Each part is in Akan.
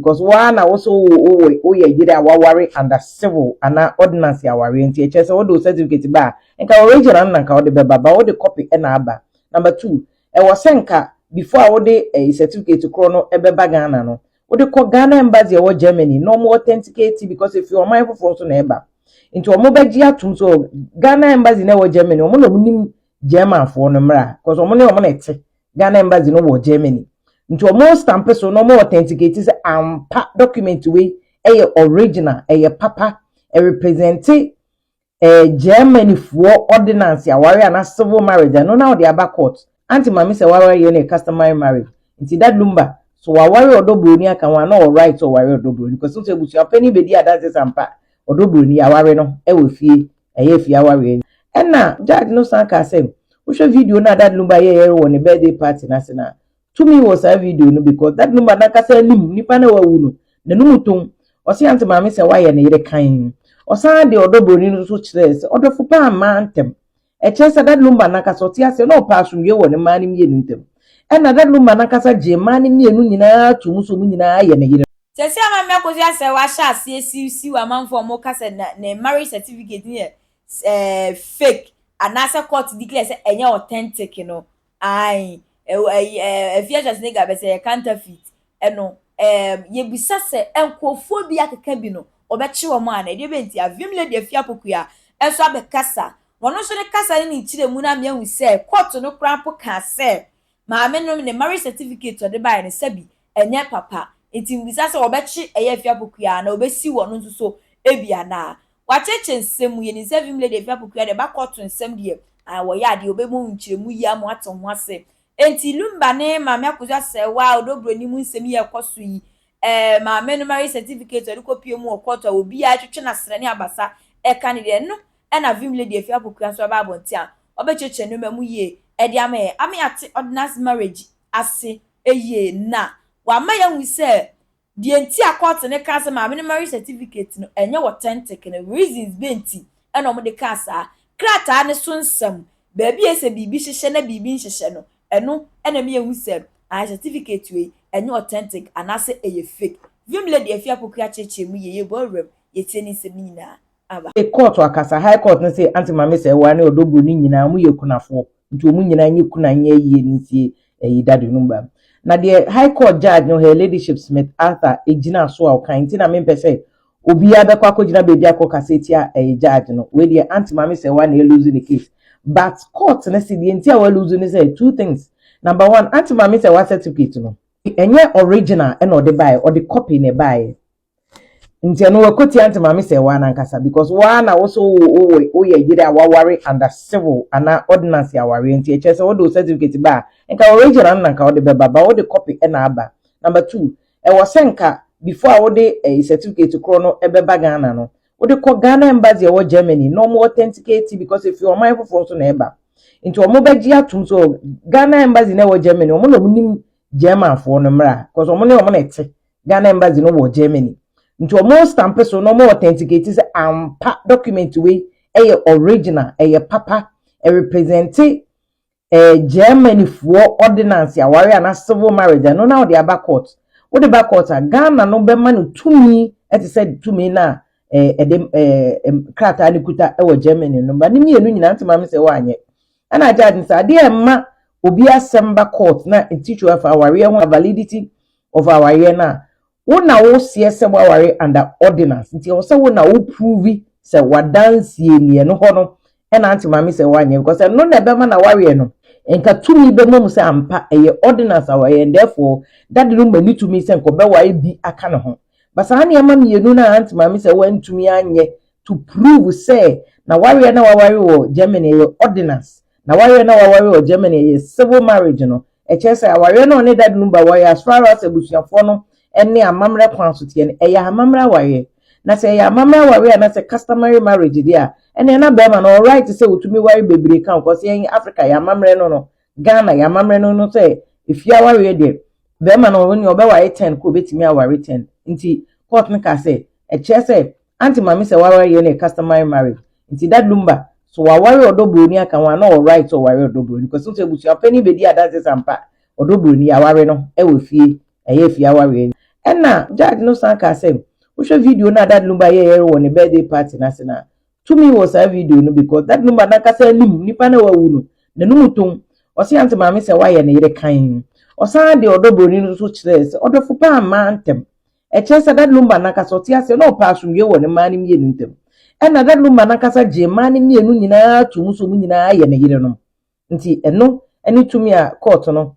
Because wo ara na wo so wo wo wo woyɛ yere a waware under civil anaa ordinance awareɛ nti ɛkyerɛ sɛ wode wo certificate ba a nka original no na nka wode bɛba but wode copy na aba. Number two, ɛwɔ sɛ nka before a wode ɛyi certificate korɔ no ɛbɛba Ghana no wode kɔ Ghana embassy ɛwɔ Germany na wɔn authenticate because efi ɔman foforɔ so na ɛba nti wɔn bɛgye atum so Ghana embassy na ɛwɔ Germany wɔn na wɔn nim Germanfoɔ no mmara because wɔn ne wɔn na ɛte Ghana embassy no wɔ Germany. Nti ɔmo stamp so na ɔmo authenticate sɛ ampa document wei ɛyɛ original, ɛyɛ papa, ɛrepresente eh, Germany foɔ ordinance aware anaa civil marriage, ɛno na ɔde aba court. Auntie Maame sɛ waware yɛ no yɛ customary marriage. Nti that Lumba, so waware ɔdɔ buroni aka ho a na ɔwɔ right sɛ ɔware ɔdɔ buroni, kɔsi sɛ abusuapanin bɛdi adanse sɛ ampa ɔdɔ buroni, yɛaware no ɛwɔ fie. Ɛyɛ fie awareɛ. Ɛna judge no san kaa sɛ wohwɛ video no a Dad Lumba yɛɛ wɔ ne birthday party no ase no a, tumi wɔ saa video no because Dad Lumba nankasa anim nipa no a wawu no, n'anum tom. Ɔse Aunt Maame sɛ wayɛ ne yere kann. Ɔsan de ɔdɔ buroni no nso kyerɛɛ sɛ ɔdɔfo paa mmaa ntam. Ɛkyerɛ sɛ Dad Lumba nankasa ɔte aseɛ na ɔpɛ asomdwoeɛ wɔ ne mmaa no mmienu ntam. Ɛna Dad Lumba nankasa gyee mmaa no mmienu nyinaa toom sɛ wɔn nyinaa yɛ ne yerenom. Sɛsi ama mmɛ kosua sɛ wahyɛ aseɛ siwsiw amanfoɔ a ɔmo ka sɛ na ne marriage certificate no yɛ ɛɛ fake anaasɛ court declare sɛ ɛnyɛ authentic no ae ɛwɔ ɛyi ɛɛ afie Schwarzenegger bɛ sɛ ɛyɛ counterfeit ɛno ɛɛ yɛbisa sɛ nkorɔfoɔ bi akeka bi no wɔbɛkye wɔn ana ɛdeɛ bɛn nti avim lady afie apokuya nso abɛ kasa na ɔno nso ne kasa ne ne nkyerɛmu no ama yɛahu sɛ court no koraa mpo kaa sɛ maame no ne marriage certificate ɔde baeɛ no sɛbi ɛnyɛ papa. Enti mibisa sɛ wɔbɛkye ɛyɛ afi Apokuyaa anaa wɔbesiw ɔno nso so bi anaa? Wɔakyekye nsɛm mu. Yenim sɛ Vim Lady afi Apokuyaa deɛ ɛba kɔɔto nsɛm deɛ, ae, wɔyɛ adeɛ. Wɔbɛma wo nkyerɛmu yi ama woate ho ase. Enti Lumba ne Maame Akosu Asɛɛwa a Odɔ Buroni mu nsɛm yi a ɛkɔ so yi, eh, maame no marriage certificate a ɔde kɔpue mu wɔ kɔɔto a obiara twetwe n'asrɛ ne abasa ka no deɛ, ɛno na Vim Lady afi Apokuyaa nso bɛba abɔnten a ɔbɛkyerɛkyerɛ nneɛma mu yie de ama yɛn, ama yɛate ordinance marriage ase yie na wama yɛahu sɛ deɛ nti a kɔɔte no kaa sɛ maame no marriage certificate no ɛnyɛ authentic no, reasons bɛn nti na wɔde kaa saa. Krataa no so nsɛm, baabi a ɛyɛ sɛ biribi hyehyɛ na biribi nhyehyɛ no, ɛno na ɛma yɛhu sɛ ae certificate wei ɛnyɛ authentic anaasɛ ɛyɛ fake. Vim Lady Afie Apoku akyerɛkyerɛ mu yie, yɛbɔ awura mu, yɛtie ne nsɛm no nyinaa. Aba. Kɔɔto akasa, High Court no se Aunty Mame Sɛɛwaa ne Ɔdɔ Buroni nyinaa wɔyɛ akunafoɔ. Nti wɔn nyinaa nyɛ kunu a nyɛ yie ne nsie ɛyi dade no ba. Na deɛ High Court Judge no Her Ladyship Smith Arthur gyina so a ɔka nti na mempɛ sɛ obiara bɛkɔ akɔgyina baabi akɔ kasa atia ɛyi Judge no. Wei deɛ Aunt Maame Sɛwa na ɛluzu ne case. But court no se deɛ nti a wɔaluzu ne sɛ two things. Number one, Aunt Maame Sɛwa certificate no. Ɛnyɛ original na ɔde baeɛ, ɔde copy na ɛbaeɛ. nti ɛno wakotia nti maame sɛ waa nankasa because waa na woso wo woyɛ yere a waware under civil ana ordinance awareɛ nti ɛkyɛ sɛ wode wo certificate ba a nka original no na nka wode bɛba ba wode copy ɛna aba number two ɛwɔ sɛ nka before a wode eh, certificate korɔ no ɛbɛba Ghana no wode kɔ Ghana embassy ɛwɔ Germany na wɔn authenticate because efi ɔman foforɔ so na ɛba nti wɔn bɛgye atum so Ghana embassy na ɛwɔ Germany wɔn na wɔn nim Germanfoɔ no mmra because wɔn ne wɔn na ɛte Ghana embassy no wɔ Germany. Nti ɔmo stamp so na ɔmo authenticate sɛ ampa document wei ɛyɛ original, ɛyɛ papa, ɛrepresente eh, Germany foɔ ordinance aware anaa civil marriage ɛno na ɔde aba court. Wode ba court a, Ghana no bɛma no tumi ɛte sɛ tumi no a eh, ɛde eh, krataa no kuta ɛwɔ Germany no ba ne mmienu nyinaa nti maame sɛ wɔanyɛ. Ɛna agya adi sɛ adeɛ ɛma obi asɛm ba court na nti twɛ afa awareɛ ho validity of awareɛ no a, wo na wo seɛ sɛ waware under ordinance nti ɛwɔ sɛ wo na wo prove sɛ wadansie ni ɛno hɔ no ɛna ante maame sɛ wanyɛ because ɛno na ɛbɛma na wareɛ no nka tumi bɛma mu sɛ ampa ɛyɛ ordinance awareɛ and therefore dade no mani tumi sɛ nkɔbɛware bi aka ne ho ba saa nneɛma mmienu no a ante maame sɛ wantumi anyɛ to prove sɛ na wareɛ na waware wɔ Germany ɛyɛ ordinance N'awareɛ no a waware wɔ Germany a ɛyɛ civil marriage no, ɛkyerɛ sɛ awareɛ no a ɔne Dad no ba wɔ yɛ as far as abusuafoɔ no ne amammerɛ kwan so teɛ no, ɛyɛ amammerɛ awareɛ. Na sɛ ɛyɛ amammerɛ awareɛ anasɛ customary marriage deɛ a, ɛneɛ na barima no ɔwɔ right sɛ ɔtumi ware bebree ka ho cause yɛn Africa yɛn amammerɛ no no, Ghana yɛn amammerɛ no no sɛ efie awareɛ deɛ, barima no ɔneɛ ɔbɛware ten kɔ ɔbɛtumi aware ten. Nti court no kaa sɛ ɛkyerɛ sɛ Auntie Maame sɛ waware yɛ no yɛ customary marriage nti that lumba so waware ɔdɔ broni aka ho a na ɔwɔ right sɛ ɔware ɔdɔ broni because wohu sɛ abusua panin bɛdi adanse sɛ ampa ɔdɔ broni yɛ aware no ɛwɔ fie ɛyɛ afie awareɛ nti ɛna judge no san kaa sɛ wohwɛ video no a that lumba yɛɛyɛ wɔ ne birthday party no ase no a tumi wɔ saa video no because that lumba nankasa anim nipa no a wawu no n'anum tom ɔse Auntie Maame sɛ wayɛ ne yere kann ɔsan de ɔdɔ broni no nso kyerɛɛ sɛ ɔdɔfo paa mmaa ntɛm Ɛkyerɛ sɛ na Luma no ankasa ɔte aseɛ na ɔpɛ asomdwoeɛ wɔ ne mmaa no mmienu ntam. Ɛnna na Luma no ankasa gyee mmaa no mmienu nyinaa too mu sɛ wɔn nyinaa yɛ ne yerenom. Nti ɛno ne tumi a kɔɔto no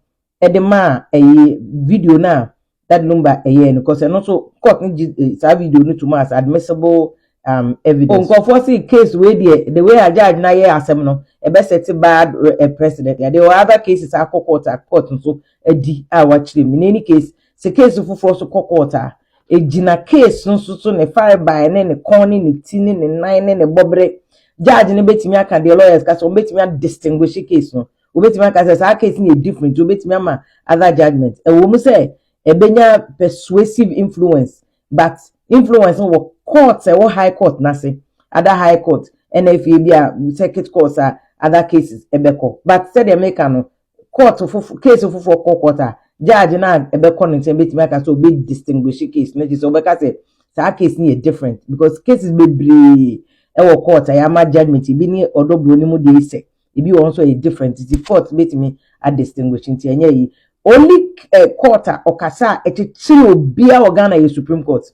de maa ɛyi video no a Dad Lumba ɛyɛɛ no because ɛno nso court no gye eh, saa video no tom as admissible um, evidence. Nkurɔfoɔ se case wei deɛ the way a judge no ayɛ asɛm no ɛbɛsɛte bad uh, precedent. There were other cases akɔ court a court nso adi a wakyerɛ mu. In any case, Sɛ case foforɔ nso kɔ court a, ɛgyina case no nso so, ne farebae ne ne kɔn ne ne ti ne ne nan ne ne bɔbere. Judge no bɛtumi aka deɛ lawyers ka sɛ wɔbɛtumi a distinguish case no. Wɔbɛtumi aka sɛ saa case no yɛ different nti wɔbɛtumi ama other judgement. Ɛwɔ mu sɛ ɛbɛnya persuasive influence but influence no wɔ court a ɛwɔ high court no ase, other high court ɛna afei bi a circuit court a other cases ɛbɛkɔ. But sɛdeɛ meka no, court foforo case foforo kɔ court a judge no a ɛbɛkɔ ne nkyɛn bɛtumi aka sɛ ɔbɛ distinguish case no kyerɛ sɛ ɔbɛka sɛ saa case no yɛ different because cases bebree ɛwɔ court a yɛama judgment ebi ne ɔdɔ buro no mu deɛ ɛsɛ ebi wɔ nso ɛyɛ different nti court bɛtumi a distinguish nti ɛnyɛ yi only uh, court a ɔkasa a ɛkyekyere obiara wɔ Ghana yɛ Supreme Court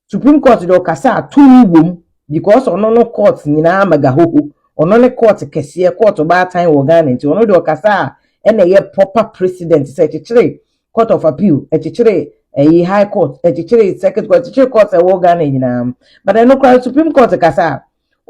Supreme court deɛ ɔkasa a tumi wom because ɔno no court nyinaa magahoho ɔno ne court kɛseɛ court ɔbaatan wɔ Ghana nti ɔno deɛ ɔkasa a ɛna ɛyɛ proper president sɛ ɛkyekyere court of appeal ɛkyekyere ɛyi high court ɛkyekyere circuit court ɛkyekyere court ɛwɔ Ghana nyinaa but ɛno koraa Supreme court kasa a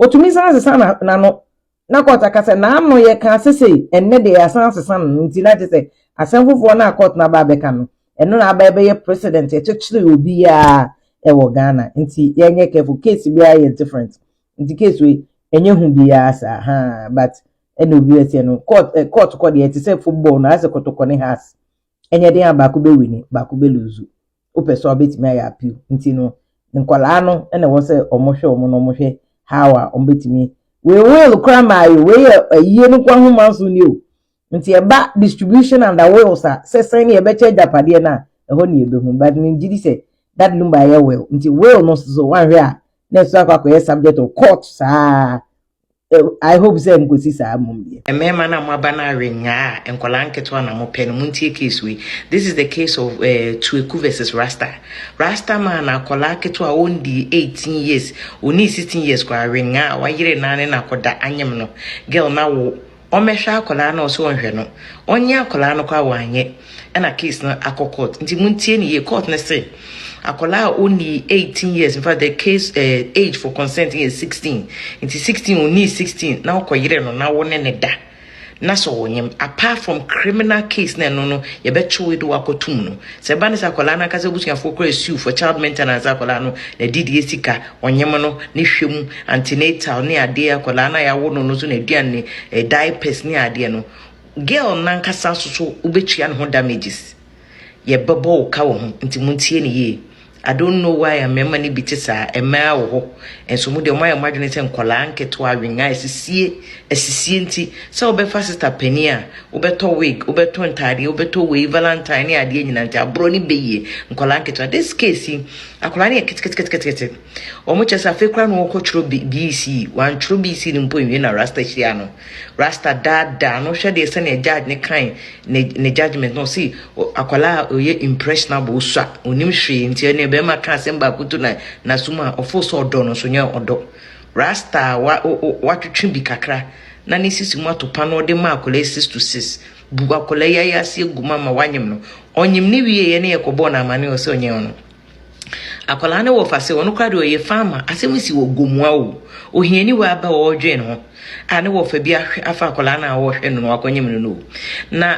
ɔtumi san sesa n'ano Na court aka sɛ n'ano yɛ ka sesei, ɛnnɛ deɛ yɛasan asesa no no nti na gye sɛ asɛm foforɔ no a court no aba abɛka no, ɛno na aba ɛbɛyɛ precedent ɛkyekyere obiara ɛwɔ Ghana. Nti yɛnyɛ careful, case biara yɛ different. Nti case wei, ɛnyɛ hu biara saa, haa, but ɛna obi bɛteɛ no, court, eh, court kɔ deɛ ɛte sɛ football no, ayɛ sɛ kɔtɔkɔ ne has. Ɛnyɛ den a baako bɛ wini, baako bɛ luzu. Wopɛ so a wobɛtumi ayɛ appeal. Nti no, nkwadaa no na ɛwɔ sɛ wɔn hwɛ wɔn na wɔn hwɛ how a wɔn bɛtumi. Wei will kora maa yɛ, wei yɛ ayie no kwa ho manso ni o. Nti ɛba distribution under wills a, sɛ sɛn ne yɛbɛkyɛ agyapadeɛ no a, ɛhɔ ne yɛbɛhu. But me gyidi sɛ Dad Lumba ayɛ will. Nti will no so wanhwɛ a, na ɛso akɔ akɔyɛ subject of court saa. I hope sɛ nkosi saa mmom deɛ. Mmarima no a moaba no awe nyaa a nkwadaa nketewa na mopɛ no montie case wei this is the case of uh, eh, Tueku versus Rasta Rasta man na akwadaa ketewa a ɔndi 18 years ɔni 16 years koraa awe nyaa a wayere naa ne na akɔda anyem no girl na wo ɔmmɛhwɛ akwadaa no a ɔsɛ ɔnhwɛ no ɔnye akwadaa no kɔ a wanyɛ ɛna case no akɔ court nti mo ntie ne yie court no se akwadaa a ɔnni 18 years in fact the case uh, age for consent yɛ 16 nti 16 ɔnni 16 na ɔkɔ yere no na wo ne ne da na sɛ ɔnyem apart from criminal case na ɛno no yɛbɛkyew de wakɔtum no sɛ ɛba ne sɛ akwadaa no ankasa abusuafoɔ kora asiw for child maintenance akwadaa no na didie sika ɔnyem no ne hwɛ mu antenatal ne adeɛ akwadaa no a yɛawo no no so na aduane ne eh, diapers ne adeɛ no girl nankasa so so wobɛtua ne ho damages yɛbɛbɔ wo ka wɔ ho nti montie ne yie I don't know why a mmarima no bi te saa mmaa wɔ hɔ nso mu deɛ ɔmayɛ ɔmadwene sɛ nkwadaa nketewa awenga asisie asisie nti sɛ wobɛfa sista panin a wobɛtɔ wig wobɛtɔ ntaadeɛ wobɛtɔ wei valentine ne adeɛ nyina nti aborɔ ne bɛyie nkwadaa nketewa this case yi Akwadaa no yɛ ketekete. Wɔn kyɛ sɛ afei koraa na wɔkɔtwerɛ BC. Wɔantwerɛ BC no mpo nwie na Rasta hyia no. Rasta daadaa no hwɛ deɛ sɛnea judge no kan ne ne judgement no ɔsi akwadaa a ɔyɛ impressionable osua onim hwee nti ɛnna bɛrima ka asɛm baako to na n'asom a ɔfo sɛ ɔdɔ no nso nyɛ ɔdɔ. Rasta wa watwetwe bi kakra na ne sisi mu ato pa na ɔde ma akwadaa six to six. Bu akwadaa yi ayaase agu mu ama wanyem no. Ɔnyem no wieeɛ ne yɛkɔbɔɔ no amane wɔ sɛ ɔnyɛ ɔno. Akwadaa no wɔ fa sɛ ɔno koraa deɛ ɔyɛ farmer. Asɛm si wɔ Gomoa o. Ohiani wɔ aba wɔ ɔredwen ne ho a ne wɔ fa bi ahwɛ afa akwadaa no a ɔrehwɛ no no wakɔnyem no no o. Na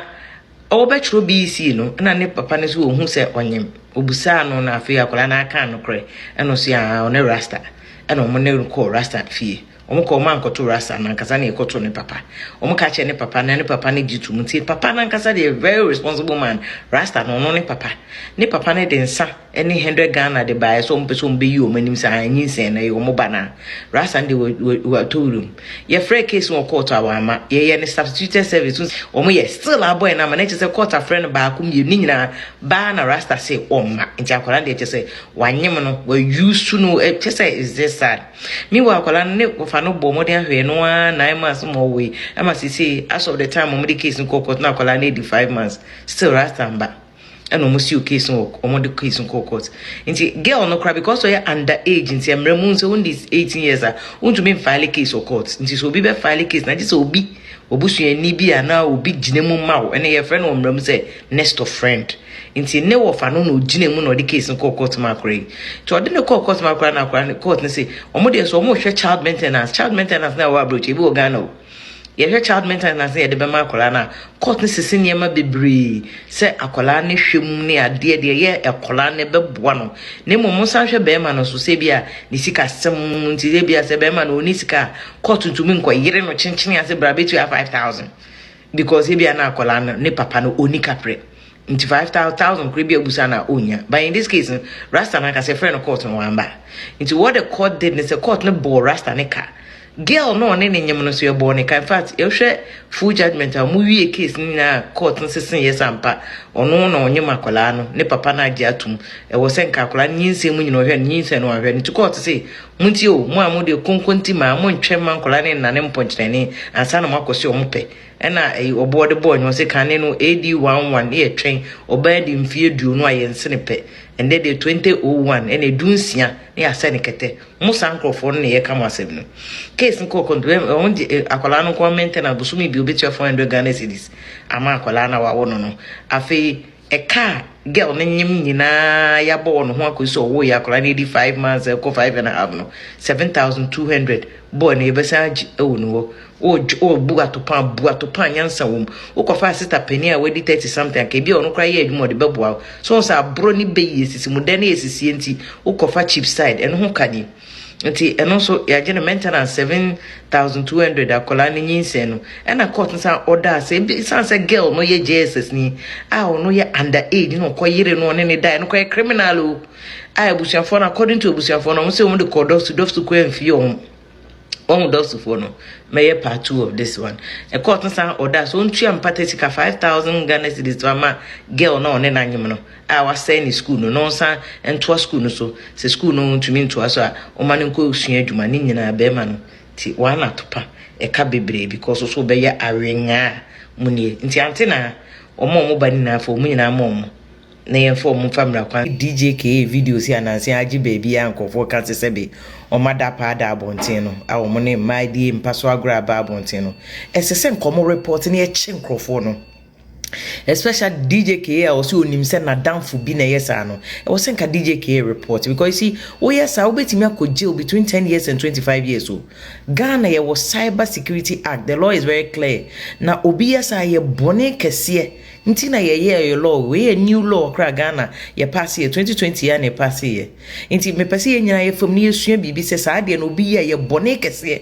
ɔbɛkyerɛ BC no na ne papa no nso ɔhu sɛ ɔnyem. Ɔbusaa no na afei akwadaa no aka nokorɛ ɛna ɔsi aa ɔne rasta ɛna ɔmo ne no kɔɔ rasta fie. wɔn kɔ wɔn ankɔto rasta nankasa na ɛkɔto ne papa wɔn ka kyerɛ ne papa na ne papa ne gye tum ti papa nankasa deɛ very responsible man rasta na ɔno ne papa ne papa ne de nsa ne hundred ghana de baeɛ sɛ wɔn pɛ sɛ wɔn bɛyi wɔn anim saa anyi nsɛn na ɛyɛ wɔn ba na rasta de wɔatɔ wurum yɛfrɛ case wɔ court a wɔama yɛyɛ ne substituted service wɔn yɛ still abɔ yɛn ama na ɛkyɛ sɛ court afrɛ no baako mmienu ne nyinaa baa na rasta se wɔn ma nti akwadaa deɛ ɛkyɛ sɛ wanyem no wɔayusu no ɛkyɛ sɛ is this sad. Meanwhile akwadaa no ne wɔfa no bɔɔ mmɔden ahwɛɛ no ara nine months ma ɔwoe ɛma sisei as of the time wɔn de case no kɔɔ court na akwadaa no adi five months still rasta mba ɛna wɔn siw case no wɔ wɔn de case no kɔɔ court nti girl no koraa because ɔyɛ under age nti mmerɛ mu sɛ wɔn di eighteen years a wɔntumi nfaale case wɔ court nti sɛ obi bɛ faale case na gye sɛ obi obusuani bi a na obi gyina mu ma wo ɛna yɛfrɛ no wɔ mmerɛ mu sɛ next of friend. Nti ne wɔfa no na ogyina mu na ɔde case no kɔɔ court ma akora yi. Nti ɔde no kɔɔ court ma akora na akora no court no se wɔn deɛ nso wɔn hwɛ child maintenance. Child maintenance na ɛwɔ aburokyi ebi wɔ Ghana o. Yɛhwɛ child maintenance na yɛde bɛma akwadaa no a court no sisi nneɛma bebree sɛ akwadaa no hwɛ mu ne adeɛ deɛ yɛ akwadaa no ɛbɛboa no. Na mmom mo san hwɛ bɛrima no nso sɛ ebi a ne sika sɛm nti ebi a sɛ bɛrima no ɔni sika a court ntumi nkɔ yere no kyenkyene ase bra bɛtua five thousand. because ebia na akwadaa no ne papa no ɔni kaprɛ nti five thousand kora bi abusa na ɔnya but in this case no rasta no ankasa ɛfrɛ no court no wamba nti what the court did ne sɛ court no bɔɔ rasta ne ka girl no ɔne ne nyem no so yɛbɔɔ ne ka in fact yɛhwɛ full judgment a ɔmo wie case no nyinaa court no sese yɛ sampa ɔno na ɔnyem akwadaa no ne papa no agye atum ɛwɔ sɛ nka akwadaa no nyinsɛn mu nyina ɔhwɛ no nyinsɛn no ɔhwɛ no nti court se Montie o, mo a mode konkonti ma a, montwɛn mma nkwadaa no nnane mpɔnkyenani ansa na moakɔse wɔn pɛ. Ɛna ɛyi ɔboɔ de bɔɔ nnwom se, Kane no AD 11 ne yɛtwɛn, ɔbaa adi mfeɛ aduonu a yɛnse no pɛ. Ɛndɛ deɛ 2001 ɛna ɛdu nsia na yɛasɛ no kɛtɛ. Mo saa nkorɔfoɔ no na yɛka mo asɛm no. Case no kɔɔ kɔnto, wɔn de akwadaa no nko ara maintenance bosome bi ɔbɛtua 400 Ghana cedis ama akwadaa no a wɔawo no no. Afei. Ɛka a girl no nyem nyinaa yɛabɔ wɔn ho akɔsi sɛ ɔwoo yɛ akwadaa no ɛdi five months ɛkɔ five and a half no seven thousand two hundred bɔɔ no yɛbɛsan agye ɛwɔ ne hɔ ɔbu atopaa bu atopaa nyansa wɔ mu wokɔfa asita panin a wadi thirty something anka ebi a ɔno koraa yɛ adwuma ɔde bɛboa so sɛ aborɔ ne bɛyi esisi mu dɛn na yɛsisie nti wokɔfa cheap side ɛno ho ka nie. Nti ɛno nso yɛagye no maintenance seven thousand two hundred akwadaa no nyinsɛn no. Ɛna court no san ɔdaa sɛ ebi san sɛ girl no yɛ JSS ni a ɔno yɛ under age na ɔkɔ yere no ɔne ne dae no kɔyɛ criminal o a abusuafoɔ no according to abusuafoɔ no wɔn sɛ wɔn de kɔɔ dɔfso dɔfso kɔ amfie wɔn wɔn dɔfsofoɔ no mɛyɛ part two of this one ɛkɔɔ no san ɔdaa so ntua mpata sika five thousand Ghana cedis to ama girl na ɔne n'anyem no. a wasɛe ne sukuu no na ɔnsan ntoa sukuu no so. Sɛ sukuu no ntumi ntoa so a, ɔma no nkɔsua adwuma. Ne nyinaa bɛrima no te wɔn anatopa ɛka bebree because nso wɔbɛyɛ awenyaa mu nie. Nti ante na wɔn a wɔn ba nyinaa fa wɔn nyinaa ma wɔn na yɛn fa wɔn mfa mmira kwan. DJ Kee video si ananse agye baabi a nkurɔfoɔ ka sɛ sɛbe wɔn adapaa da abɔnten no a wɔn ne mmaa di mpa so agorɔ aba abɔnten no. Ɛsɛ sɛ nka wɔn report na yɛkye nkurɔfoɔ no. Especial DJ Kay a ɔse onim sɛ nadamfo bi na ɛyɛ saa no, ɛwɔ sɛ nka DJ Kay report because you see woyɛ saa wobɛtumi akɔ jail between ten years and twenty five years o. Ghana yɛwɔ cyber security act, the law is very clear na obi yɛ saa ɛyɛ bɔne kɛseɛ nti na yɛyɛɛ yɛ law wei yɛ new law koraa Ghana yɛ paase yɛ twenty twenty yi ara na yɛ paase yɛ nti mepɛ sɛ yɛn nyinaa yɛfam na yɛsua biribi sɛ saa deɛ no obi yɛ ɛyɛ bɔne kɛseɛ.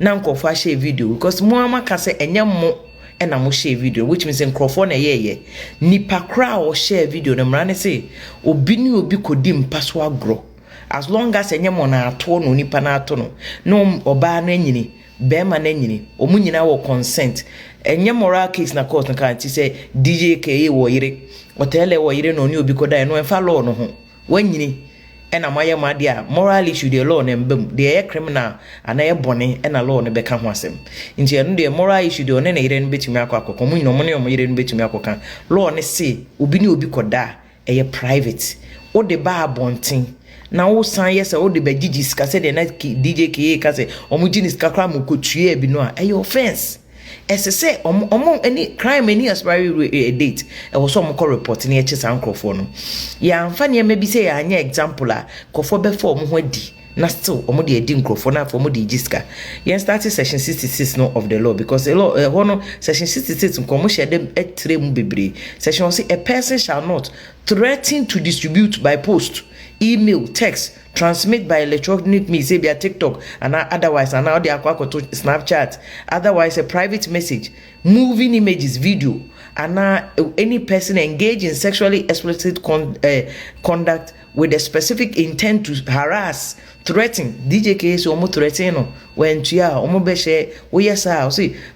na nkurɔfoɔ ahyɛɛ video because mo ara mo aka sɛ ɛnyɛ mo na mo hyɛɛ video which means nkurɔfoɔ na ɛyɛɛyɛ nipa koraa a ɔhyɛɛ video no mmara ne se obi ne obi kɔdi mpa so agorɔ as long as ɛnyɛ mo na ato no nipa no ato no na ɔbaa no anyini bɛrima no anyini wɔn nyinaa wɔ consent ɛnyɛ moral case na court no kaa nti sɛ DJ Kay wɔ yere ɔtɛlɛ wɔ yere na ɔne obi kɔdaeɛ no ɛmfa law no ho Wɔanyini na moayɛ mo adeɛ a, moral issue deɛ law no mba mu. Deɛ ɛyɛ criminal anaa ɛyɛ bɔne na law no bɛka ho asɛm. Nti ɛno deɛ moral issue deɛ ɔne ne yere no bɛtumi akɔ akɔka, wɔn nyinaa wɔn ne wɔn yere no bɛtumi akɔka. Law no se obi ne obi kɔda a, ɛyɛ private. Wode ba abɔnten na wosan yɛ sɛ wode bɛgyegye sika sɛdeɛ na DJ Kee reka sɛ wɔgye ne sika koraa ma ɔkɔtuaa bi no a, ɛyɛ offence. Ɛsɛ sɛ ɔmo ɔmo ɛne crime ɛne expiry date ɛwɔ sɛ ɔmo kɔ report na yɛkyɛ saa nkorɔfoɔ no yɛanfa nneɛma bi sɛ yɛanyɛ example a nkorɔfoɔ bɛfa ɔmo ho adi na still ɔmo de adi nkorɔfoɔ na afei ɔmo de gye sika yɛn starte section sixty six no of the law because a law ɛhɔ no section sixty six nko ɔmo hyɛ dɛm ɛtrɛ mu bebree section ɔse a person shall not threaten to distribute by post email text Transmit by electronic means ebia TikTok anaa otherwise anaa ɔde akɔ akɔto Snapchat, otherwise a private message, moving images, video, anaa any person engage in sexually explicit conduct with the specific intent to harass, threaten, DJ Kay se wɔn threaten no, wantua a wɔn bɛhyɛ, woyɛ saa a, ɔse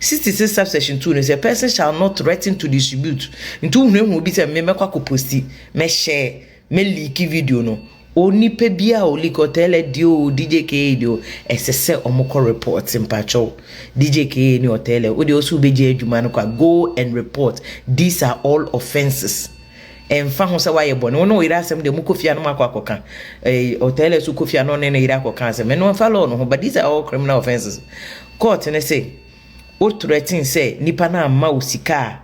66 subsection 2 no sɛ person shall not threaten to distribute nti wohunahuna obi sɛ me mɛkɔ akɔposti mɛhyɛ mɛliiki video no onipa bi a oliiki ɔtɛlɛ deɛ o dj ka deɛ o ɛsɛ sɛ ɔmokɔ report mpakyɛw dj ka ne ɔtɛlɛ wodeɛ ɔsɛ wobɛgye adwuma no kwa go and report these are all offenses ɛmfa ho sɛ woayɛ bɔne wo ne wo yere asɛm deɛ mokɔ fie a no makɔ akɔka ɔtɛlɛ so kɔ fie a no ne ne yere akɔka asɛm ɛno ɛmfa law no ho but these are all criminal offenses Court no se wo threaten sɛ nipa no amma wo sika a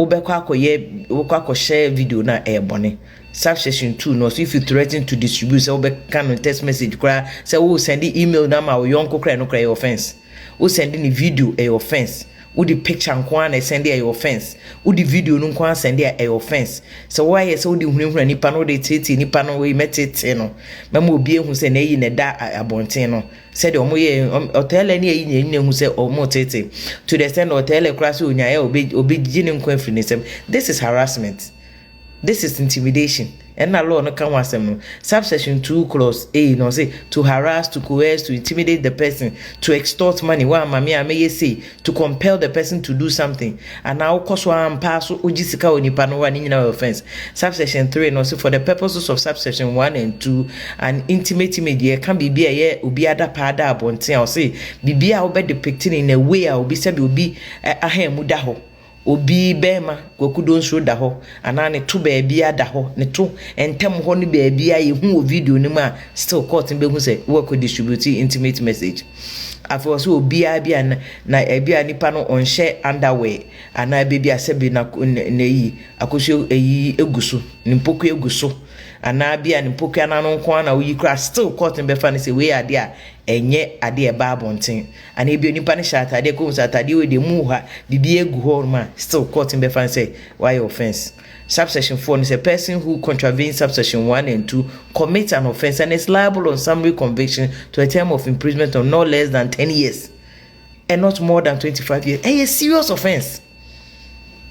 wobɛkɔ akɔyɛ wobɛkɔ akɔhyɛ video no a ɛyɛ bɔne. Subsection two no ɔse if you threaten to distribute sɛ wobɛka no text message koraa sɛ wo send email no ama wo yɔnko koraa ɛno koraa ɛyɛ offence. Wo send no video ɛyɛ offence. Wode picture nko ara na ɛsɛnde ɛyɛ offence. Wode video no nko ara sɛnde a ɛyɛ offence. Sɛ woayɛ sɛ wode hunahuna nipa no wode teetee nipa no wei mɛteetee no mɛma obi ahu sɛ n'ayi na ɛda abɔnten no sɛdeɛ ɔmo yɛ ɔtɛɛlɛ ne ayi nyina hu sɛ ɔmo tete to the extent ɔtɛɛlɛ koraa sɛ onyaeɛ a obe obe gye ne nkwa firi ne nsam this is harassment this is intimidation ɛna law no ka ho asɛm no subsection two clause a na ɔse to harass to coerce to intimidate the person to extort money wa ama me a mɛyɛ sei to compel the person to do something anaa wo kɔ so ara mpaa so wogye sika wɔ nipa no hɔ a ne nyinaa yɛ offence. Subsection three no ɔse for the purposes of subsection one and two an intimate image deɛ ɛka biribi a ɛyɛ obi adapaa da abɔnten a ɔse biribi a wobɛ depict no in a way a obi sɛdeɛ obi ahan mu da hɔ Obi bɛɛma Kwaku Donsuro da hɔ anaa ne to baabiaa da hɔ, ne to ntɛm hɔ ne baabiaa yɛ hu wɔ video no mu a still court no bɛhu sɛ wo akɔ distribute intimate message. Afei ɔsɛ obiaa bi a na ebia nipa no ɔnhyɛ underwear anaa ebia bi a sɛbi na n'ayi akosuo ayi egu so, ne mpokua egu so anaa bi a ne mpokua no ano nko ara na woyi koraa still court no bɛfa no sɛ wei yɛ adeɛ a ɛnyɛ adeɛ a ɛba abɔnten. Anaa ebia nipa no hyɛ ataadeɛ kɔn mu sɛ ataadeɛ wei deɛ mu wɔ ha biribi agu hɔ nom a still court no bɛfa no sɛ wayɛ offence. Subsection four no sɛ person who contravenes subsection one and two commits an offence and is liable on summary conviction to a term of imprisonment of not less than ten years and not more than twenty five years. Ɛyɛ serious offence.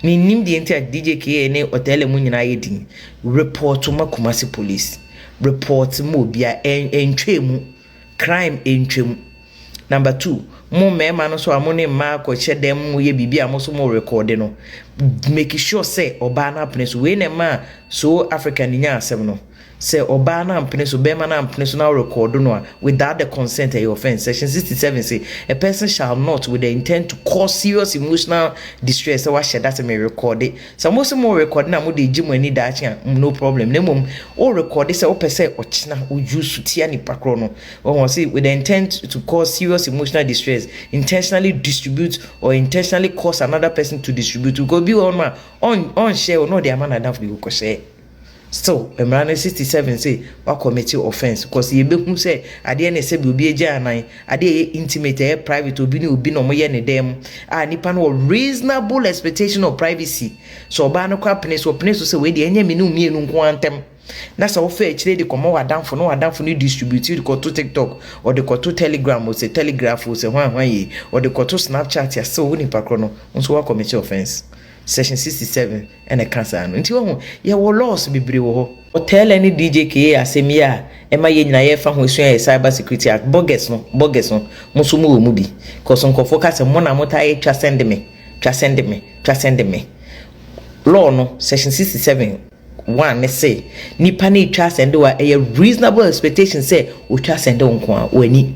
Menim deɛ nti a DJ KA ne Otele mu nyinaa yɛ din. Report ma Kumasi police. Report ma obiara ɛntwa mu. Crime ntwam. Number two, mo mmarima no nso a mo ne mmaa kɔhyɛ dan mu yɛ biribi a mo nso morekɔɔde no, make sure sɛ ɔbaa no apene so. Wei na ɛmaa So African nyaa asɛm no. Sɛ ɔbaa no ampene so, barima no ampene so na worekɔɔdo no a, without the consent ɛyɛ offence. Section 67 se, A person shall not, with the intent to cause serious emotional distress, sɛ wahyɛ da sɛ merekɔɔde Sɛ mo se mo rekɔde na mode regye mo ani daakye a, no problem. Na mmom wo rekɔde sɛ wopɛ sɛ ɔkyena wo use tia nipa korɔ no. Wahu ɔse with the intent to cause serious emotional distress, intentionally distribute or intentionally cause another person to distribute. Because obi wɔ hɔ nom a ɔn ɔnhyɛ o na ɔde ama n'adamfo bi kɔhyɛ. Still mmara no sixty seven say wa commit offence cos yɛ bɛ hu sɛ adeɛ no sɛbi obi agya anan adeɛ ɛyɛ intimate ɛyɛ private obi ne obi na ɔmo yɛ ne dan mu a nipa no wɔ reasonable expectation of privacy sɛ ɔbaa no kora pene so ɔpene so sɛ wei deɛ ɛnyɛ me ne wo mmienu nko ara ntɛm na sɛ wofa akyire de kɔmɔ w'adanfo na w'adanfo no distribute de kɔto tiktok ɔde kɔto telegram o sɛ telegraph o sɛ hwan hwan yi ɔde kɔto snapchat a sɛ wo nipa korɔ no nso wa commit offence section sixty seven Ɛna ɛka saa no. Nti wahu, yɛwɔ laws bebree wɔ hɔ. Ɔtɛɛlɛ ne DJ Kee asɛm yi a ɛma yɛn nyinaa yɛfa ho sua yɛ cyber security act, bogus no, bogus no, mo nso mo wɔ mu bi, cos nkorɔfoɔ ka sɛ mo na mo taa yɛ twa send me, twa send me, twa send me. Law no, section sixty seven, one no se, nipa no retwa asɛnde wo a, ɛyɛ reasonable expectation sɛ, otwa asɛnde wo nko ara, w'ani.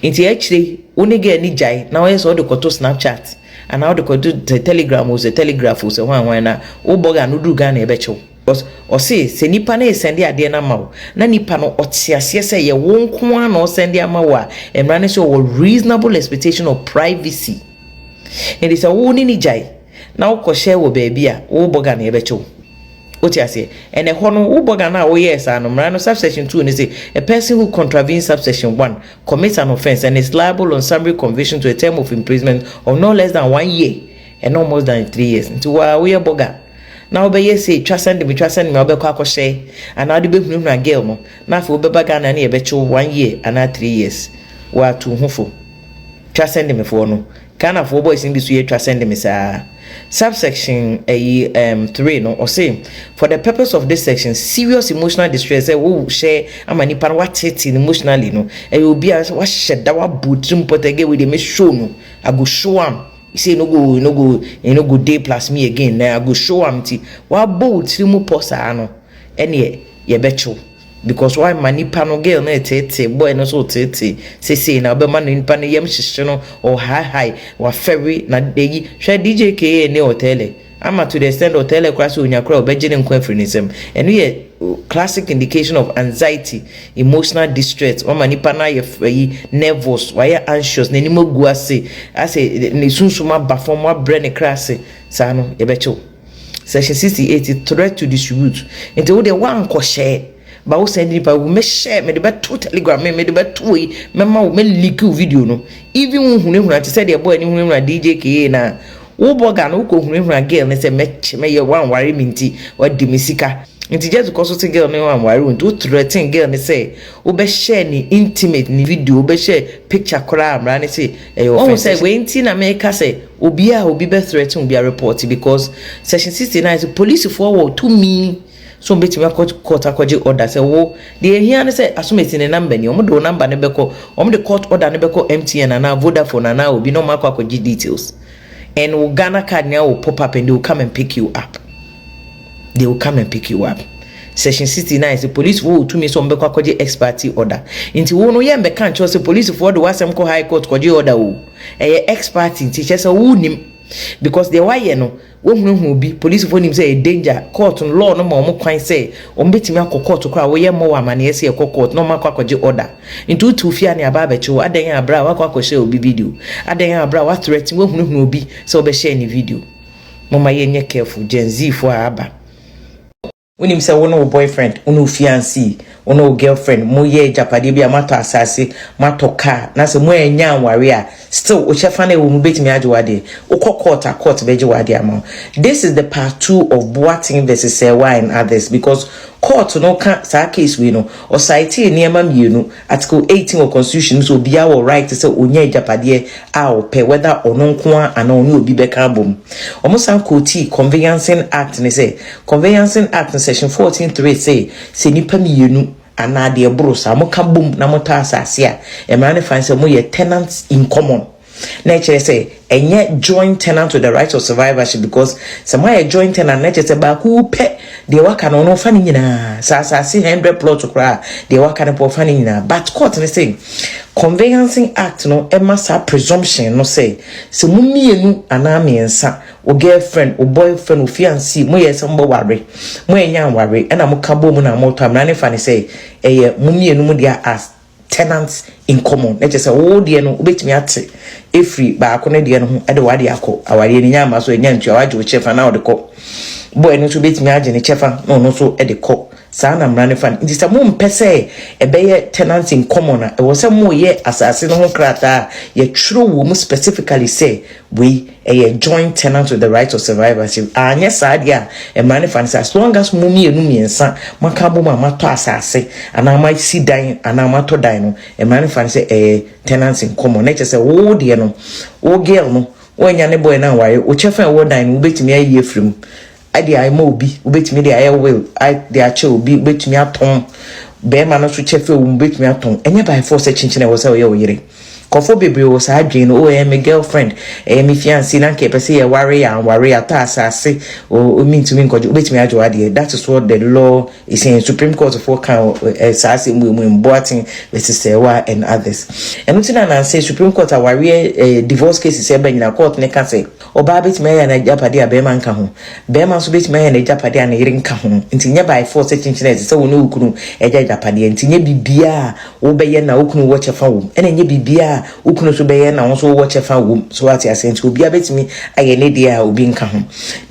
Ntsi akyire yi wo ne girl no gyae na ɔyɛ sɛ ɔde kɔto snapchat anaa ɔde kɔto sɛ telegram o sɛ telegraph o sɛ hwan hwan na wo bɔga no duru Ghana yɛbɛkye wo cos ɔse sɛ nipa no resɛnde adeɛ no ama wo na nipa no ɔte aseɛ sɛ ɛyɛ wo nko ara na ɔresɛnde ama wo a mmara ne sɛ ɔwɔ reasonable expectation of privacy enti sɛ wo ne no gyae na wokɔhyɛ wɔ baabi a wo bɔga no yɛbɛkye wo. Wote aseɛ? Ɛna ɛhɔ no, wo bɔga no a woyɛɛ saa no, mmara no subsection two no se, A person who contravenes subsection one commits an offence and is liable on summary conviction to a term of imprisonment of not less than one year and not more than three years. Nti wo a woyɛ bɔga na wobɛyɛ sei, twa sɛn de me, twa sɛn de me a wobɛkɔ akɔhyɛ anaa wode bɛhunahuna girl no na afei wobɛba Ghana ne yɛbɛkye wo one year anaa three years. Wo a tu wo ho fo. Twa sɛn de mefoɔ no. Ghana foɔ boys no bi so yɛtwa send me saa. Subsection ayi um, three no ɔse for the purpose of this section serious emotional distress sɛ wo hyɛ ama nipa no wateetee no emotionally no ɛyɛ obi a sɛ wahyɛ da wabɔ tirim pɔtɛ gɛ wei deɛ me show no I go show am say no go no go you no go day plus me again na I go show am nti wabɔ wo tirim pɔ saa no ɛneɛ yɛbɛkyew. Because w'ama nipa no girl no reteetee boy no so reteetee sesei na wobɛma no nipa no yam hyehye no or high high wafɛre na ayi hwɛ DJ Kee ne Othello ama to the extent that Othello koraa sɛ onya koraa ɔbɛgye ne nkwa afiri ne nsam ɛno yɛ classic indication of anxiety emotional distress wama nipa no ayɛ ayi nervous wayɛ anxious n'anim agu ase asɛ ne sunsum aba fam wabrɛ ne kra ase saa no yɛbɛkye wo. Section sixty eight, Threat to distribute, Nti wo deɛ woankɔhyɛ ba wo sɛn de nipa wo mɛhyɛ mede bɛto telegram me mede bɛto wei mɛma wo mɛ leak wo video no even wo hunahuna te sɛ deɛ boy ne hunahuna DJ KA na wo bɔga no wokɔ hunahuna girl ne sɛ mɛkyɛ mɛyɛ wanware me nti wadi me sika nti just kɔ so te girl ne wanware wo nti wo threaten girl ne sɛ wobɛhyɛ ne intimate ne video wobɛhyɛ picture koraa mmara ne sɛ ɛyɛ offense wɔn sɛ wei nti na meka sɛ Obi a obi bɛ threaten obi a report because section sixty nine sɛ polisifoɔ wɔ tumi sɛ wɔbɛtumi akɔ court akɔgye order sɛ wo deɛ ɛhia ne sɛ Asomasi ne number ni wɔn de wo number no bɛkɔ wɔn de court order no bɛkɔ MTN anaa Vodafone anaa obi na wɔn akɔ akɔgye details and wo Ghana card nyinaa will pop up and they will come and pick you up. they will come and pick you up section sixty nine sɛ polisifoɔ wɔ tumi sɛ wɔn bɛkɔ akɔgye ex parte order nti wɔn no yɛn bɛka nkyɛw sɛ polisifoɔ de w'asɛm kɔ high court kɔgye order o ɛyɛ ex parte nti kyɛ sɛ wɔn nim because deɛ wayɛ no wɔhunahuna obi polisifoɔ nim sɛ ɛyɛ danger court no law no ma wɔn kwan sɛ wɔn bɛtumi akɔ court koraa wɔyɛ mmɔ wɔ amaneɛ sɛ ɛkɔ court na wɔn akɔ akɔgye order nti wotu fie a ne aba abɛkye wo adɛn a abira a wakɔ akɔhyɛ obi video adɛn a abira a wathreaten wɔhunahuna obi sɛ wɔbɛhyɛ ne video Momma yɛnyɛ careful Gen Z foɔ a aba. Wonim sɛ wo ne wo boyfriend, wo ne wo fiancee, wo ne wo girlfriend mo yɛ agyapadeɛ bi a moatɔ asase, moatɔ car na sɛ moannya anware a still wo kyɛfa no a ɛwɔ mu bɛtumi agye w'adeɛ. Wokɔ court a court bɛgye w'adeɛ ama wo. This is the part two of Boateng versus Serwaa and others because court no ka saa case wei no ɔcitee nneɛma mmienu Article eighteen wɔ constitution mu sɛ obiara wɔ right sɛ ɔnya agyapadeɛ a ɔpɛ whether ɔno nko ara anaa ɔne obi bɛka abom. Wɔn san quotee Conveyancing Act no sɛ Conveyancing Act no section fourteen three se sɛ nnipa mmienu anaa deɛ ɛboro saa moka bom na motɔ asase a, mmara no fa no sɛ moyɛ tenants in common. Na ɛkyerɛ sɛ ɛnyɛ joint tenant to the right of survivorship because sɛ moayɛ joint tenant na ɛkyerɛ sɛ baako wu pɛ deɛ waka no ɔno ɔfa ne nyinaa sɛ asase hundred plot koraa deɛ waka no pɔ ɔfa ne nyinaa but court no sɛ conveyancing act no ɛma saa presumption no sɛ sɛ mo mmienu anaa mmiɛnsa wo girlfriend wo boyfriend wo fiancé mo yɛ sɛ mo bɛware mo ɛnya nware ɛna mo ka bɔ mu na mo tɔ mmara ne fa ne sɛ ɛyɛ mo mmienu mo deɛ as tenant in common na kyerɛ sɛ wo deɛ no wobɛtumi ate ɛfiri baako no deɛ no ho de wade akɔ awareɛ no nya ama so ɛnya ntua wagye wo kyɛfa na wode kɔ bɔɛ no nso wobɛtumi agye ne kyɛfa na ɔno nso de kɔ saa na mmara no fa no nti sɛ mompɛ sɛ ɛbɛyɛ tenant in common a ɛwɔ sɛ moyɛ asase no ho krataa yɛtwerɛ wɔ mu specifically sɛ wei Ɛyɛ joint tenant with the right of survivorship. Anyɛ saa deɛ a, mmara no fa no sɛ as long as mo mmienu mmiɛnsa moaka abom a moatɔ asase anaa moasi dan anaa moatɔ dan no, mmara no fa no sɛ ɛyɛ tenants in common. Na kyerɛ sɛ wo deɛ no, wo girl no, woannya ne boy no anware, wo kyɛfa a ɛwɔ dan no wobɛtumi ayi afiri mu de ama obi, wobɛtumi de ayɛ will de akyɛ obi, wobɛtumi atɔn bɛrima no so kyɛfɛ wo mu, wobɛtumi atɔn. Ɛnyɛ by force sɛ kyenkyen ɛwɔ sɛ ɔyɛ wo yere. Nkurɔfoɔ bebree wɔ saa adwene no, o ɛyɛ me girlfriend, ɛyɛ me fiancé, na nka yɛpɛ sɛ yɛware yɛ anware, yɛatɔ asase, o mentumi nkɔgye, wobɛtumi agye w'adeɛ. That is what the law is saying. Supreme Court foɔ ka eh, saa asɛm wɔ mu, Mboaten versus Serwa and others. Ɛno ti na nanse Supreme Court awareɛ eh, divorce cases ɛba nyina court ne ka sɛ, Ɔbaa betumi ayɛ n'agyapade a barima nka ho. Barima nso betumi ayɛ n'agyapade a ne yere nka ho. Enti nyɛ by force kyenkyen a ɛsɛ sɛ wo ne wo kunu gya agyapadeɛ. Enti nyɛ biribiara a wobɛyɛ na wo kunu wɔ kyɛfa wom, ɛna nyɛ biribiara a wo kunu nso bɛyɛ na wo nso wowɔ kyɛfa wom. So woate aseɛ? Enti obiara betumi ayɛ ne deɛ a obi nka ho.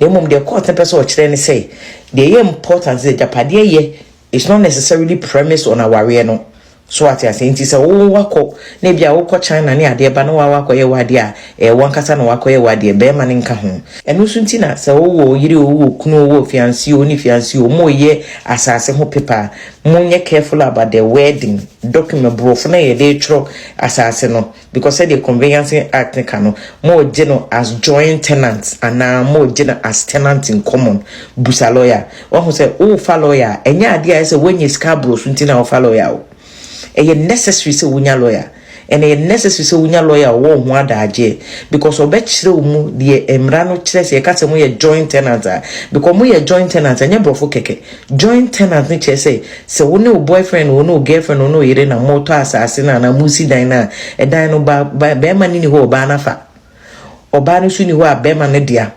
Na mmom deɛ court no pɛ sɛ ɔkyerɛ ne sɛ, deɛ ɛyɛ important sɛ agyapadeɛ yɛ It's not necessarily premised on awareɛ no, so wate aseɛ? Nti sɛ wo wakɔ na ebi a wokɔ China ne adeɛ ba na waa wakɔyɛ w'adeɛ a, ɛyɛ wankasa na wakɔyɛ w'adeɛ, bɛrima no nka ho. Ɛno nso nti na sɛ wowɔ yere o, wowɔ kunu o, wowɔ fiancé o, wo ne fiancé o, moreyɛ asaase ho paper a, monyɛ careful about the wording, document, borɔfo no a yɛde retwerɛ asaase no. because sɛdeɛ conveyancing act no ka no moregye no as joint tenant anaa moregye no as tenant in common busa lawyer wahu sɛ wofa lawyer a ɛnyɛ adeɛ a ɛsɛ woanya sika aborɔ so nti na wofa lawyer o ɛyɛ necessary sɛ wonya lawyer ɛna ɛyɛ necessary sɛ wonya lawyer a ɔwɔ ho adagyeɛ because ɔbɛkyerɛ wo mu deɛ mmara no kyerɛ sɛ ɛka sɛ moyɛ joint tenant a because moyɛ joint tenant ɛnyɛ borɔfo kɛkɛ Joint tenant no kyerɛ sɛ, sɛ wo ne wo boyfriend, wo ne wo girlfriend, wo ne wo yere na moretɔ asase no anaa moresi dan no a, ɛdan no ba, ba, barima no nni hɔ a ɔbaa no afa, ɔbaa no nso nni hɔ a barima no dea,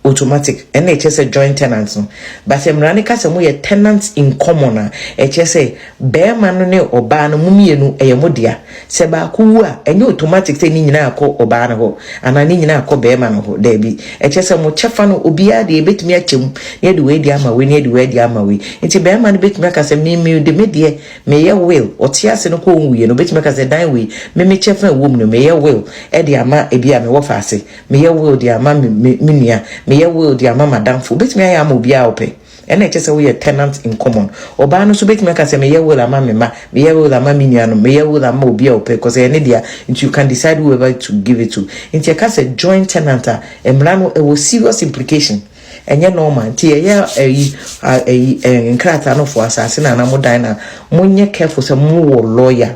automatic, ɛno na ɛkyerɛ sɛ joint tenant no. But sɛ mmara no ka sɛ moyɛ tenant in common a, ɛkyerɛ sɛ Barima no ne ɔbaa no, mo mmienu, ɛyɛ mo dea. Sɛ baako wu a, ɛnyɛ automatic sɛ ne nyinaa kɔ ɔbaa no hɔ anaa ne nyinaa kɔ barima no hɔ. Daabi. Ɛkyerɛ sɛ mo kyɛfa no, obiara deɛ, yɛbɛtumi akyɛ mu na yɛde wei de ama wei na yɛde wei de ama wei. Nti barima no bɛtumi aka sɛ, Me, mede me deɛ, meyɛ will, ɔte ase no kɔ ɔnwuiɛ no, ɔbɛtumi aka sɛ, Dan wei, me, me kyɛfa a ɛwɔ mu no, meyɛ will de ama ebia me wɔfa ase, meyɛ will de ama me, me, me nua, meyɛ will de ama m'adamfo. Ɔbɛtumi ayɛ ama obiara a ɔpɛ. Ɛnna ɛkyerɛ sɛ woyɛ tenant in common. Ɔbaa no nso bɛtumi aka sɛ, meyɛ will ama me mma, meyɛ will ama me nuanom, meyɛ will ama obi a ɔpɛ, cos ɛyɛ ne dea, nti you can decide whoever to give it to. Nti yɛka sɛ joint tenant a, mmara no ɛwɔ serious implication. Ɛnyɛ normal. Nti yɛyɛ ayi a ayi eh, nkrataa no for asase no anaa mo dan no a, monyɛ careful sɛ mowɔ lawyer.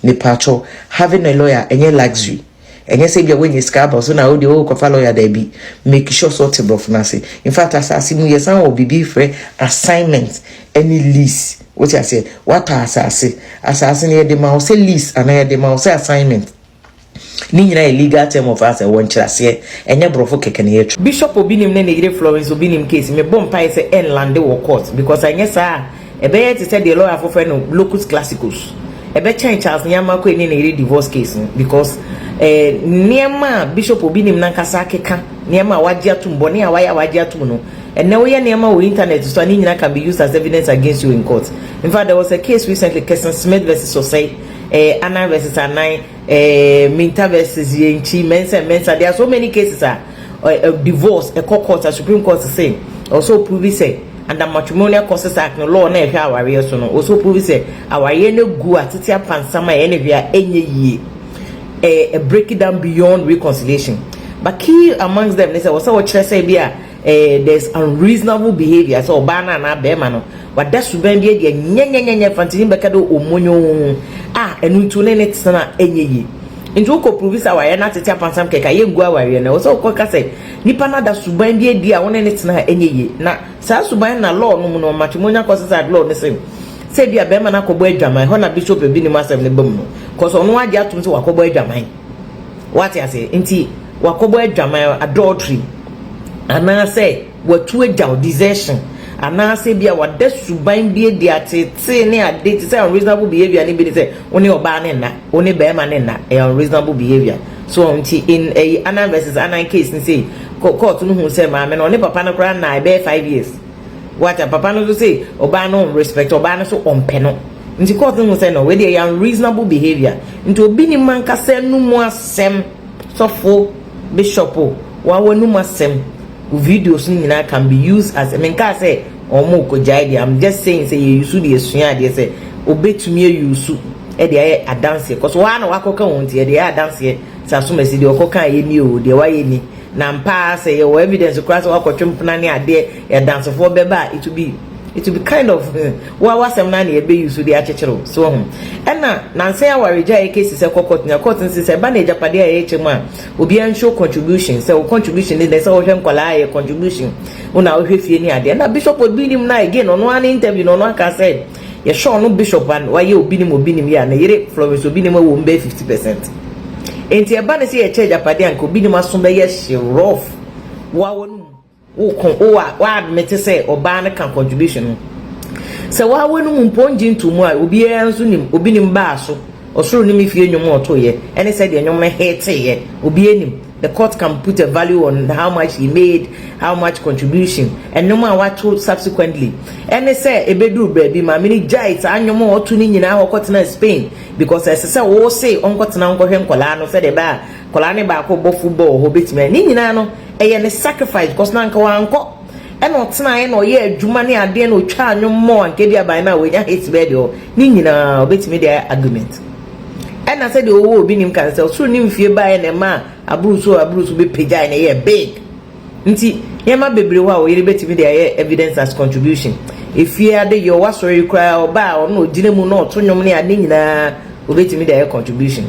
Mepaakyɛw, having a lawyer ɛnyɛ luxury. ɛnyɛ sɛ bia woanya sika aba so na wo deɛ wo kɔfa lawyer daabi make sure sɛ ɔte borɔfo no ase in fact asase mu yɛsan wɔ biribi frɛ assignment ɛne lease wote aseɛ wata asase asase no yɛde ma wo sɛ lease anaa yɛde ma wo sɛ assignment ne nyinaa yɛ legal term of asɛ wɔ nkyerɛaseɛ ɛnyɛ borɔfo kɛkɛ na yɛtwe bishop obi nim ne ne yere florence obi nim case mebɔ mpaeɛ sɛ ɛnlande wɔ court because anyɛ saa a Ɛbɛyɛ te sɛ deɛ lɔyafo frɛ no locus classicus. Ɛbɛkyɛn Charles Nyama Koi ne ne yere divorce case no because ɛɛ nneɛma a bishop obi nim nankasa akeka, nneɛma a wagye atum, bɔne a wayɛ a wagye atum no, ɛnnɛ woyɛ nneɛma wɔ internet so a ne nyina can be used as evidence against you in court. In fact, there was a case recently, Kirsten Smith vs. Osei, ɛɛ Annan vs. Annan, Eh, Minta versus Yenchi, Mensah, Mensah. There are so many cases are uh, eh, uh, eh, divorce, a court court, a Supreme Court say, also prove say, and the matrimonial causes act no law na ɛhwɛ awareɛ so no also prove sɛ awareɛ no gu a tete apansam a ɛne hwɛ a ɛnyɛ yie ɛɛ break it down beyond reconciliation but key amongst them ne sɛ wɔsɛ wɔkyerɛ sɛ bi a Ɛɛ there's unreasonable behaviour sɛ ɔbaa no anaa bɛɛma no wada suban bi adi a nyɛnyɛnyɛnyɛ fantini bɛka dɛ omonyoo a ɛno nti wo ne no tena ɛnyɛ yie. Nti wo kɔ pruvi sɛ awareɛ no atete apansam kɛkɛ a yɛngu awareɛ no. Ɛwɔ sɛ wo kɔ ka sɛ nipa no ada suban bi adi a wo ne no tena a ɛnyɛ yie. Na saa suban no na law no mu no, matrimonial causes act law no se sɛ ebia bɛɛma no akɔbɔ adwaman, ɛhɔ na bishop ebinom asɛm no ba mu no, cause ɔno agye atom sɛ wakɔbɔ adwaman. Wate aseɛ? Nti wakɔbɔ adwaman, adultery, anaasɛ watu agyaw, desertion, anaasɛ bi a wada suban bi adi, ateetee ne ade te sɛ unreasonable behaviour ne bi ne sɛ wo ne ɔbaa ne nna, wo ne barima ne nna, ɛyɛ unreasonable behaviour. So ɔho nti in ɛyi Annan versus Annan case ne sei, court no hu sɛ maame no ɔne papa no koraa nna ɛbɛyɛ five years. Wate, papa no nso se ɔbaa no ɔnrespect ɔbaa no so ɔmpɛ no. Nti court no hu sɛ no wei deɛ ɛyɛ unreasonable behaviour nti obi nim ankasa anumu asɛm sɔfo bishop o wa w'anumu asɛm wo videos no nyinaa can be used as menkaa sɛ wɔn kɔgyae deɛ I'm just saying sɛ yɛ yusu deɛ sua adeɛ sɛ obetumi ayusu ɛde ayɛ adanseɛ kɔso waa na wakɔka wɔn nti ɛde ayɛ adanseɛ sɛ asomasi deɛ ɔkɔka yɛ ni o deɛ wayɛ ni Na ampa ara sɛ yɛwɔ evidence koraa sɛ woakɔtwe mpena ne adeɛ, yɛ adansefoɔ bɛba a, it will be it will be kind of hmm, wo a w'asɛm no ara na yɛbɛ use de akyekyere wo. So wahu? Ɛna nansa yi awaregyaeɛ case sɛ kɔ court, na court no se sɛ ɛba no agyapadeɛ a yɛrekyɛ mu a, obiara nshow contribution, sɛ wo contribution ne dɛn, sɛ wohwɛ nkwadaa a ɛyɛ contribution, wo na wohwɛ fie ne adeɛ. Ɛna Bishop Odui nim no a again, ɔno ara ne interview no ɔno aka sɛ, Yɛhwɛ ɔno Bishop a wayɛ Obinim Obinim yi a, ne yere Florence Obinim awo no bɛyɛ fifty percent. Enti ɛba no sɛ yɛkyɛ agyapade a, nka Obinim aso bɛyɛ hye rough. Wo ara w'anom wo ko, wo a w'admit sɛ ɔbaa no ka contribution ho. Sɛ wo ara w'anom mpo ɔngye ntoo mu a, obiara nso nim Obinim baa so, Ɔsoro ne me fie nnwom a ɔtoeɛ, ɛne sɛdeɛ nnwom no heeteeɛ, obiara nim. The court can put a value on how much he made, how much contribution, nnwom a wato subsequently. Ɛne sɛ ɛbɛduru baabi maame no gyae saa nnwom a ɔto no nyinaa hɔ kɔtenaa Spain because ɛsɛ sɛ wose ɔnkɔtena nkɔhwɛ nkɔlaa no sɛdeɛ ɛbɛa kɔlaa ne baako bɔ football hɔ bɛtumi ne nyinaa no ɛyɛ ne sacrifice because na anka wankɔ ɛna ɔtenaeɛ na ɔyɛ adwuma ne adeɛ na ɔtwaa nnwom mmɔ anka bi aban no a wɔanya hits bɛɛ deɛ hɔ ne nyinaa ɔbɛtumi de ayɛ argument. Ɛna sɛdeɛ ɔwɔ obi nim ka no sɛ ɔsoro ne mfie baeɛ na ɛmaa aburuso aburuso bi pagyae na ɛyɛɛ big. Nti nneɛma bebree hɔ a wo yere bɛtumi de ayɛ evidence as contribution. Efie adeyɔ, w'asɔre koraa ɔba a ɔno na ɔgyina mu na ɔto nnwom ne ade nyinaa ɔbɛtumi de ayɛ contribution.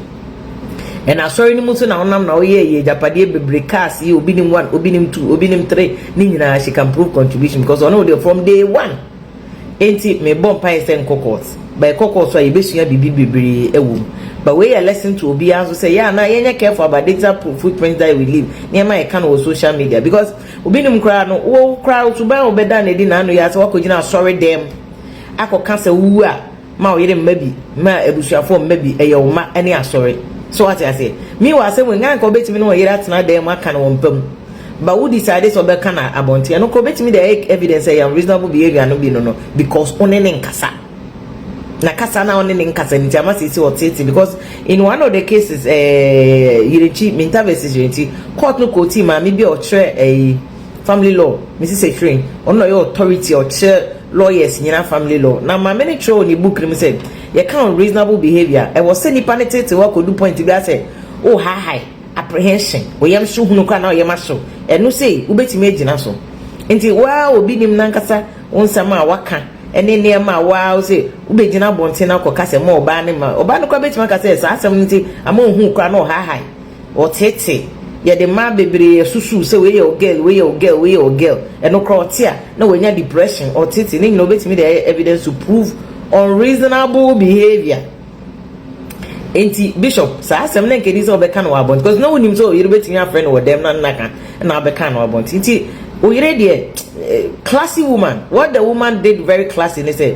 Ɛna asɔre no mu nso na wonam na woyɛ yɛ agyapadeɛ bebree cars yi obi nim one obi nim two obi nim three ne nyinaa she can prove contribution because ɔne wo deɛ from day one. Enti me bɔ mpaeɛ sɛ nkɔ court but ɛkɔ court so a yɛbɛsua biribi bebree wɔ mu but wei yɛ lesson to obiara nso sɛ yɛ a na yɛnyɛ careful about data footprint that we leave nneɛma a yɛka no wɔ social media because obi nim koraa no wo koraa wo suban a wobɛda no adi na ano yɛ a sɛ woakɔgyina asɔre dɛm akɔka sɛ wowu a Ma wo yere mma bi, ma abusuafoɔ mma bi, ɛyɛ wo mma ne asɔre. So wate aseɛ? Meanwhile asɛm wei, nka anka ɔbɛtumi ne wɔn yere atena dan mu aka no wɔn mpa mu. But wo decide sɛ ɔbɛka no abɔnten. Ɛno koraa ɔbɛtumi de ayɛ evidence sɛ ɛyɛ unreasonable behaviour no bi no no because wo ne ne nkasa. Na kasa no a wo ne ne nkasa no nti ama sɛ sɛ ɔteete because in one of the cases ɛɛ eh, Yerenkyi, Minta versus Yerenkyi, court no kɔɔ tii maame bi a ɔkyerɛ ɛyi eh, family law, Mrs. Efirin, ɔno na ɔyɛ authority a ɔkyerɛ lawyers nyina family law na maame no kyerɛw wɔ ne book no mu sɛ yɛka unreasonable behaviour a ɛwɔ sɛ nipa no teetew akɔdu point bi a sɛ wo haahae apprehension wo yam so hunu koraa na wo yam ahyew ɛno sei wobɛtumi agyina so nti wo ara obi nim nankasa wo nsɛm a waka ɛne nneɛma a wo ara wo sɛ wobɛgyina abɔnten no akɔka sɛ ma ɔbaa no ma ɔbaa no koraa bɛtumi aka sɛ saa asɛm no nti ama ɔhuu koraa na ɔhaahae Ɔtete, yɛde mmaa bebree asusuw sɛ wei yɛ ɔgirl, wei yɛ ɔgirl, wei yɛ ɔgirl. Ɛno koraa ɔte a na wanya depression, ɔtete, ne nyinaa obetumi de ayɛ evidence to prove unreasonable behavior. Enti Bishop, saa asɛm na nkedi sɛ ɔbɛka no wɔ abɔnten because na wonim sɛ ɔyere betumi afrɛ no wɔ dɛm na nna ka na abɛka no abɔnten. Nti oyere deɛ, classy woman, what the woman did very classy ne sɛ,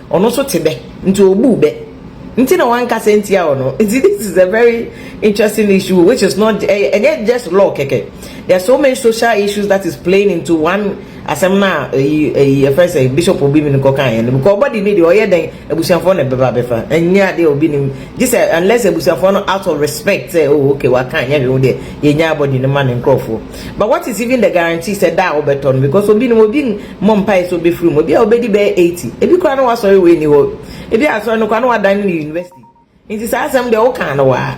Ɔno nso te bɛ nti ɔbuu bɛ nti na wankasa ntia ɔno. Nti this is a very interesting issue which is not ɛyɛ ɛnyɛ just law kɛkɛ. There are so many social issues that is playing into one asɛm no a ɛyi ɛyi ɛfrɛ sɛ bishop obi mi no kɔ kan yɛn no because ɔbɔde ne deɛ ɔyɛ dɛn abusuafoɔ na ɛbɛba abɛfa ɛnyɛ adeɛ a obi nim gye sɛ unless abusuafoɔ no out of respect sɛ oh okay waka nyɛ hwee ho deɛ yɛnya abɔde no ma ne nkurɔfoɔ but what is even the guarantee sɛ da a wobɛtɔ no because obi nim obi Mmɔ mpae sɛ wobefiri mu. Ebia wubedi bɛyɛ eighty. Ebi koraa na w'asɔre wei nni hɔ. Ebia asɔre no koraa na wɔadan no university. Nti saa asɛm deɛ wokaa no waa.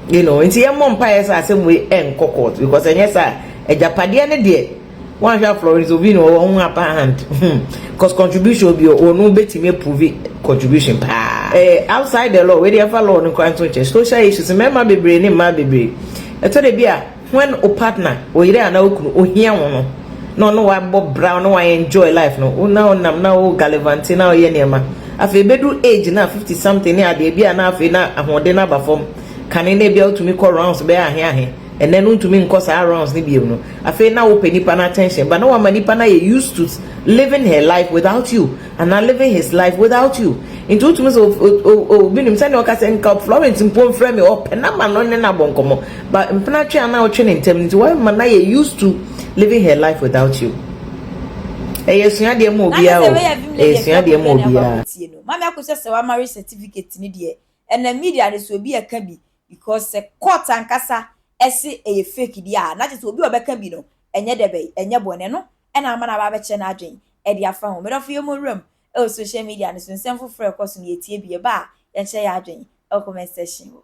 You know, nti yɛmmɔ mpaeɛ sɛ asɛm wei ɛnkɔ court because ɛnyɛ saa a, agyapadeɛ no deɛ woanhwɛ a Florence Ovini wɔ hɔ ho upper hand. Hmm. Because contribution bi wɔ no wobɛtumi approve contribution paa. Eh, outside the law, wei deɛ ɛmfa law no koraa nto nkyɛn. Social issues, mmarima bebree ne mmaa bebree. Ɛtɔ da bi a When wo partner, wo yere anaa wo kunu, ohia wo no, na ɔne wo abɔ bra, ɔne wo a enjoy life no, wo na wonam na wo gallivante na woyɛ nneɛma. Afei ebedu age no a, fifty something ne adeɛ, ebia na afei na ahoɔden no aba fam. Kane na ebia wotumi kɔ rounds bɛyɛ ahe ahe, ɛnnɛ no wontumi nkɔ saa rounds no biom no, afei na wopɛ nipa no attention, but na wama nipa no ayɛ used to living her life without you. Anaa living his life without you nti wotumi sɛ obi nim sɛnea ɔka sɛ nka Florence mpo mfrɛ me ɔpɛ na ma no ne no abɔ nkɔmmɔ ba mpena twe a na ɔtwe ne ntɛm nti wɔma na yɛ used to living her life without you ɛyɛ suadeɛ ma obiara o ɛyɛ suadeɛ ma obiara. Mami ako sɛ sɛ wa marriage certificate ne deɛ ɛnam media no so obi ɛka bi because sɛ court ankasa ɛse ɛyɛ fake deɛ a na kyɛ sɛ obi a ɔbɛka bi no ɛnyɛ dɛbɛn ɛnyɛ bɔne ɛno na ama no aba abɛkyerɛ n'adwene de afa ho. Me dɔfo, yɛmmɔ wuram wɔ social media no so, nsɛm foforo a ɛkɔ so no, yɛtie bi, ɛba a, yɛkyerɛ yɛn adwene wɔ comment section hɔ.